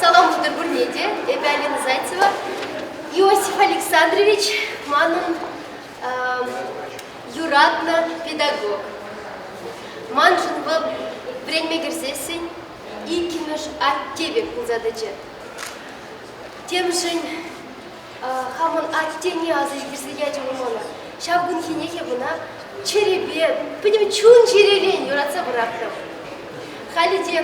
Салам пултӑр пурне те. Эпӗ Алина Зайцева. Иосиф Александрович манӑн юратнӑ педагог. Маншӑн вӑл вӗренме кӗрсессӗн иккӗмӗш атте пек пулса тӑчӗ. Темшӗн Хамӑн аттене асӑнчӗ председатель мана. Ҫав кунхинех я мана черепе, пӗтӗм чун-чӗререн юратса пӑрахрӑм. Халӗ те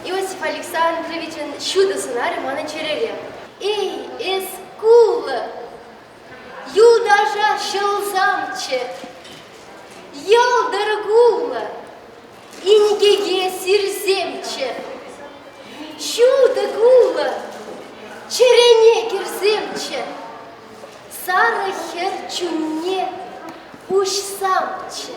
Иосиф Александровичӑн ҫутӑ сӑнарӗ мана чӗрере. Эй, эс кул! Юнашар ҫӑлсамччӗ. Йӑлтӑр кул! Инкеке сирсемччӗ. Ҫутӑ кулӑ чӗрене кӗрсемччӗ. Сарӑ хӗр чунне уҫсамччӗ.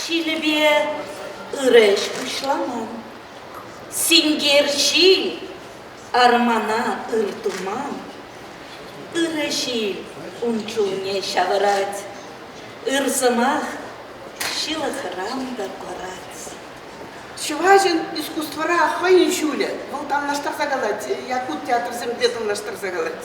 Ҫилӗпе ырӑ ӗҫ пуҫланӑ. Синкер ҫил армана ыр туман. Ырӑ ҫил ун чулне ҫавӑрать. Ыр сӑмах ҫылӑхран та курать. Чӑвашӑн искусствӑра хӑйӗн ҫулӗ. Вӑл танлаштарса калать, якут театрсемпе танлаштарса калать.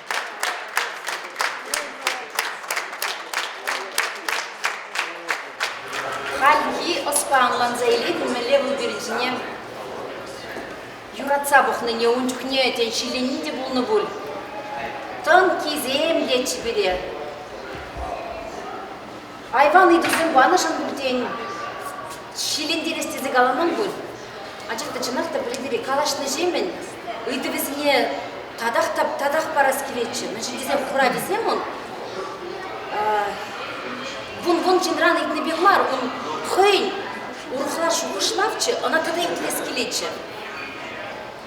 Хальхи ӑспа ӑнланса илеймелле вӑл пирӗн ҫине. Юратса пӑхнине ун чухне тен ҫилленни те пулнӑ пуль. Тӑнкисем те чипере. Айван ыйтусем панӑшӑн пиртен ҫилентерес тесе каламан пуль. Анчах та чӑнах та пӗринтере калаҫнӑҫемӗн ыйтӑвӗсене татах та татах парас килетчӗ. Мӗншӗн тесен хуравӗсем ун вун-вун ҫынран ыйтнӑ пек мар, ун хӑйӗн урӑхла шухӑшлавччӗ, ӑна тата итлес килетчӗ.